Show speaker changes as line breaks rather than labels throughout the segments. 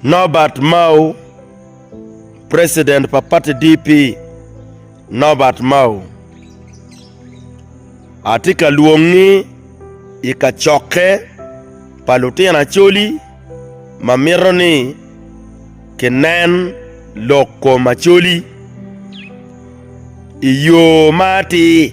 Nobert Mao, President pa pati DP, Nobert Mao, atye ka lwongi i kacokke pa lutino Acholi ma mito ni kinen lok kom Acholi i yo ma atir.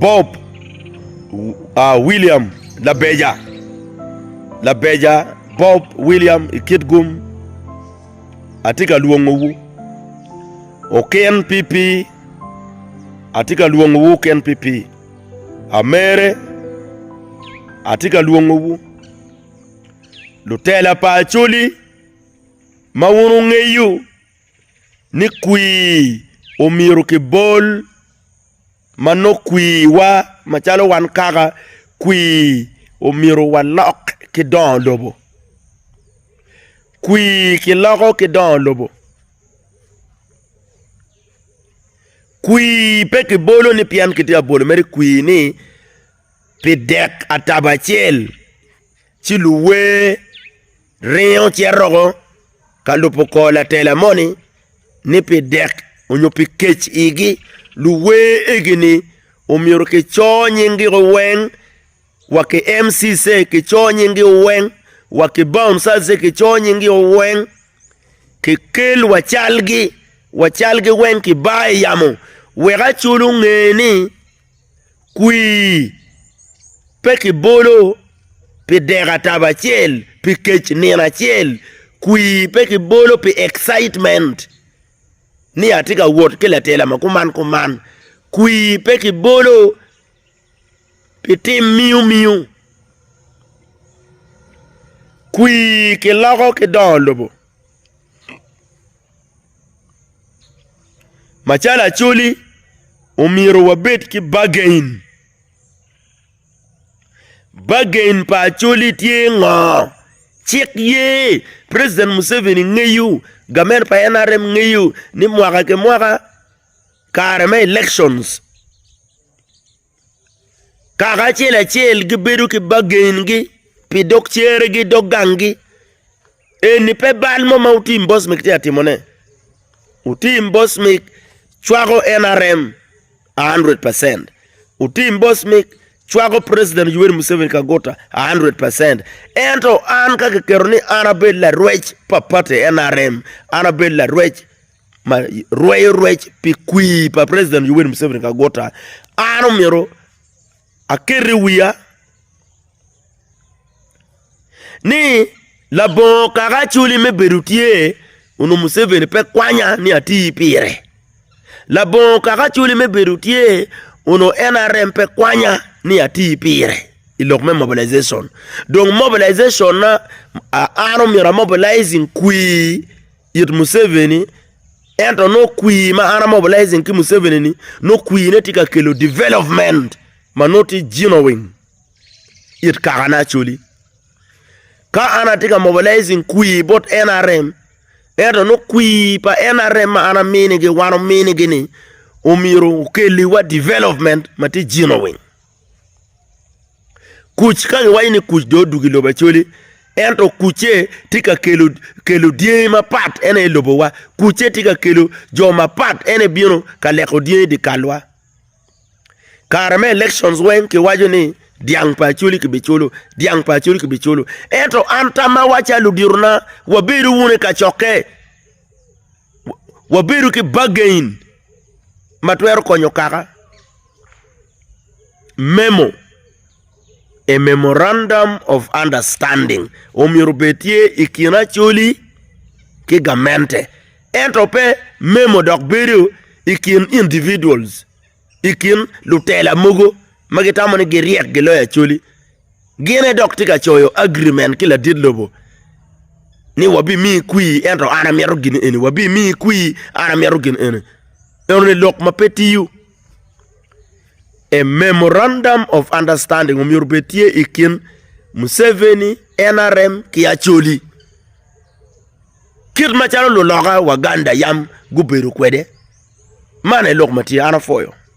Bob William Labeja Labeja Bob William i kit gum atye ka lwongowu Okin PP atye ka lwongowu Okin PP Amere atye ka lwongowu Lutela pa Acholi ma wun wungeyo ni kwir omyero kibol ma nongo kwirwa macalo wan kaka kwir omyero walok ki dongo lobo. Kwir kiloko ki dongo lobo, kwir pe kibolo ni pien kitye ka bwolo mere kwir ni pi dek atabo acel. Ci luwer ringo ci aroko ka lubo kor latela moni ni pi dek onyo pi kec igi luwer egi ni omyero ki cor nying gi o weng wa ki MCC ki cor nying gi o weng wa ki Bom Sal se ki cor nying gi o weng ki kel wa cal gi wa cal gi weng ki bar i yamo wek aculu nge ni kwii, pe kibolo pi dek atabo acel, pi kec nino acel, kwii pe kibolo pi excitement ni atye ka wot ki latela ma kuman kuman, kwii pe kibolo pi tim miyo miyo, kwii kiloko ki dongo lobo. Macalo Acholi, omyero wabed ki bagain. Bagain pa Acholi tye ngo? Cik ye, president Museveni ngeyo, gamen pa NRM ngeyo ni mwaka ki mwaka kare me elections. Kaka acel acel gibedo ki bagengi pi dog ceregi dog gangi. Eni pe bal mo ma otim Bosmic tye ka timone. Otim Bosmic cwako NRM a hundred percent. Otim Bosmic cwako president Yoweri Museveni Kaguta a hundred percent. Ento an ka kiketo ni an abed larwec pa party NRM, an abed larwec ma rweyo rwec pi kwir pa president Yoweri Museveni Kaguta an omyero aket i wiya ni labongo kaka acwali me bedo tye onongo Museveni pe kwanya ni ati pire labongo kaka acwali me bedo tye onongo NRM pe kwanya ni ati pire i lok me mobilization dong mobilization na an omyero amobilizing kwir it Museveni ento nongo kwir ma an a mobilizing ki Museveni ni nongo kwir ne tye ka kelo development ma nongo tye genuine it kaka ne Acholi. Ka an atye ka mobilizing kwir bot NRM ento nongo kwir pa NRM ma an aminigi wan ominigi ni omyero okelliwa development ma tye genuine. Kuc ka giwaco ni kuc dong odwogo i lobo Acholi ento kucce tye ka kelo dyangi mapat en aye lobowa kucce tye ka kelo jo mapat en aye bino ka leko dyangi dyekalwa kare me elections weng kiwaco ni dyang pa Acholi kibiculo dyang pa Acholi kibiculo ento an tammawa calo ludyetona wabedo wunu i kacokke. wabedo ki bargain ma twero konyo kaka, memo, a memorandum of understanding omyero obed tye i kin Acholi ki gamente ento pe memo dok bedo i kin individuals. I kin lutela mogo ma gitamo ni giryek giloyo Acholi, gin aye dok tye ka coyo agirimen ki ladit lobo ni wabimiyi kwir ento an amito gin eni, wabimiyi kwir an amito gin eni. Enoni lok ma pe tiyo. A memorandum of understanding omyero obed tye i kin Museveni, NRM ki Acholi. Kit macalo luloka Waganda yam gubedo kwede, man aye lok ma tye, an apwoyo.